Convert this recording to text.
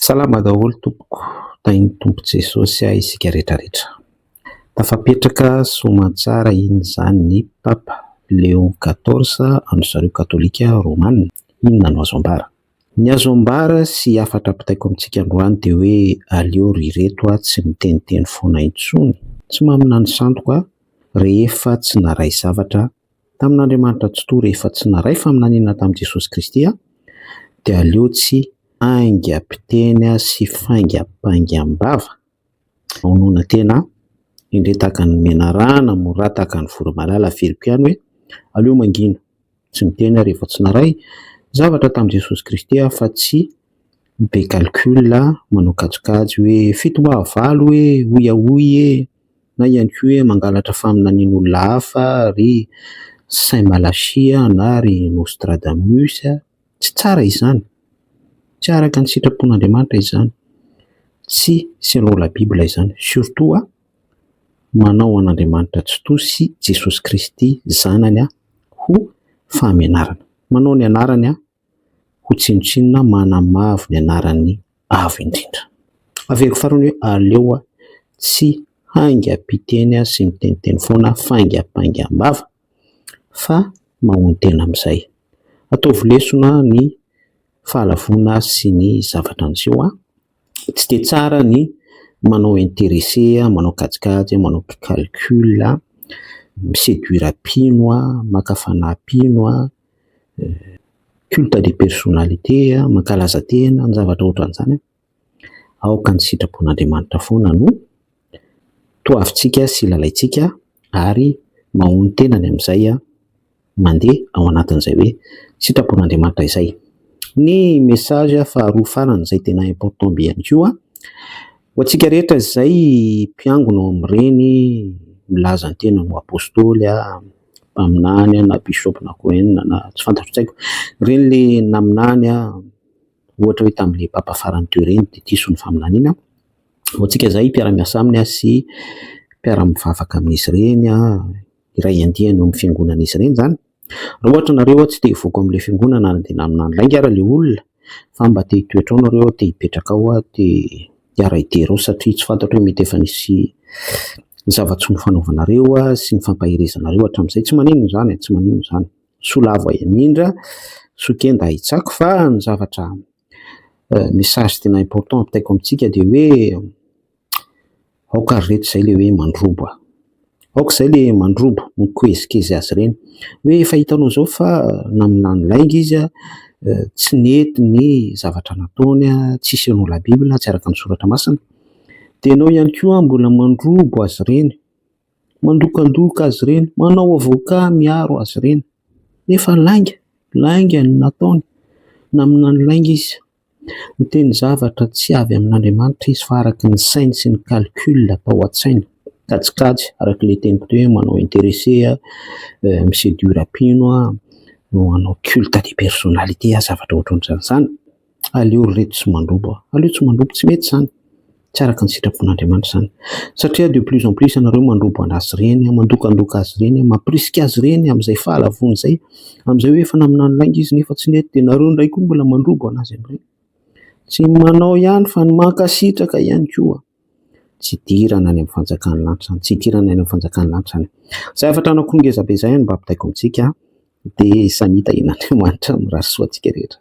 Salama daholo tompoko, tahin'ny Tompo Jesosy ahy isika rehetra rehetra. Tafapetraka soamantsara iny izany ny Papa Leo quatorze an-dry zareo Katolika Romana, inona no azo ambara? Ny azo ambara sy hafatra ampitaiko amintsika androany dia hoe aleo ry reto a tsy miteniteny foana intsony, tsy maminany sandoko a, rehefa tsy naray zavatra Tamin'Andriamanitra Tsitoha rehefa tsy naray faminaniana tamin'i Jesosy Kristy aho dia aleo tsy haingam-piteny sy faingam-paingam-bava hamonoana tena aho, indray tahaka ny menarana mora tahaka ny voromalala averiko ihany hoe aleo mangina tsy miteny aho rehefa tsy naray zavatra tamin'i Jesosy Kristy aho fa tsy be calcul manao kajikajy hoe fito mbaha valo e! hoy aho hoy e! na ihany koa hoe mangalatra faminanian'olona hafa ry Saint Malachie na ry Nostradamus, tsy tsara izany, tsy araka ny sitrapon'Andriamanitra izany, tsy selon la bible izany, surtout a, manao an'Andriamanitra tsitoha sy Jesosy Kristy zanany ho fahamenarana, manao ny anarany a. ho tsinontsinona manamavo ny anaran'ny Avo Indrindra. Averiko farany hoe aleo aho tsy haingam-piteny sy miteniteny foana faingapaingam-bava fa mahonon-tena amin'izay. Ataovy lesona ny fahalavoana sy ny zavatra niseho an! Tsy dia tsara ny manao intéressé, manao kajikajy, manao calcul, mi-séduire mpino, maka fanahy mpino, culte de personnalité, mankalaza tena, ny zavatra ohatran'izany, aoka ny sitrapon'Andriamanitra foana no toavintsika sy lalaintsika ary mahonon-tena ny amin'izay mandeha ao anatin'izay hoe sitrapon'Andriamanitra izay. Ny message faharoa farany izay tena important be ihany koa, ho antsika rehetra izay mpiangona ao amin'ireny milaza ny tena ho apostoly, mpaminany na bishop na koa inona na tsy fantatro tsy haiko, ireny le naminany ohatra hoe tamin'ilay papa farany teo ireny dia diso ny faminaniana, ho antsika izay mpiara-miasa aminy sy mpiara-mivavaka amin'izy ireny, iray andiany eo amin'ny fiangonan'izy ireny izany, raha ohatra ianareo tsy te hivoaka ao amin'ilay fiangonana ary dia naminany lainga ary ilay olona, fa mba te hitoetra ao nareo aho, te hipetraka ao aho, te hiaray dera ao satria tsy fantatro hoe mety efa nisy zava-tsy nofanaovanareo sy nifampaherezanareo hatramin'izay, tsy maninona izany e, tsy maninona izany, soa lavo ahy amindra, soa kenda ahy tsako fa ny zavatra, message tena important apitaiko amintsika dia hoe, Aoka ry reto izay ilay hoe mandroba. Aoka izay ilay mandroba, mikoezikezỳ azy ireny. Hoe efa hitanao izao fa naminany lainga izy, tsy nety ny zavatra nataony, tsy selon la bible, tsy araka ny soratra masina. Dia ianao ihany koa mbola mandroba azy ireny, mandokandoka azy ireny, manao avoka miaro azy ireny. Nefa lainga, lainga ny nataony, naminany lainga izy. Miteny zavatra tsy avy amin'Andriamanitra izy fa araka ny sainy sy ny calcul atao an-tsainy. Kajikajy, araka ilay teniko teo hoe manao interesse, mi seduire mpino, no hanao culte de personnalité zavatra ohatran'izany. Aleo ry reto tsy mandroba, aleo tsy mandroba, tsy mety izany. Tsy araka ny sitrapon'Andriamanitra izany. Satria de plus en plus ianareo mandroba azy ireny, mandokandoka azy ireny, mampirisika azy ireny amin'izay fahalavoany izay. Amin'izay hoe efa naminany lainga izy nefa tsy nety dia ianareo indray koa mbola mandroba azy amin'ireny. Tsy ny manao ihany fa ny mankasitraka ihany koa. Tsy hidirana any amin'ny fanjakan'ny lanitra izany, tsy hidirana any amin'ny fanjakan'ny lanitra izany. Izay hafatra anako ngezabe izay no mba ampitaiko amintsika dia samia tahian'Andriamanitra mirary soa antsika rehetra.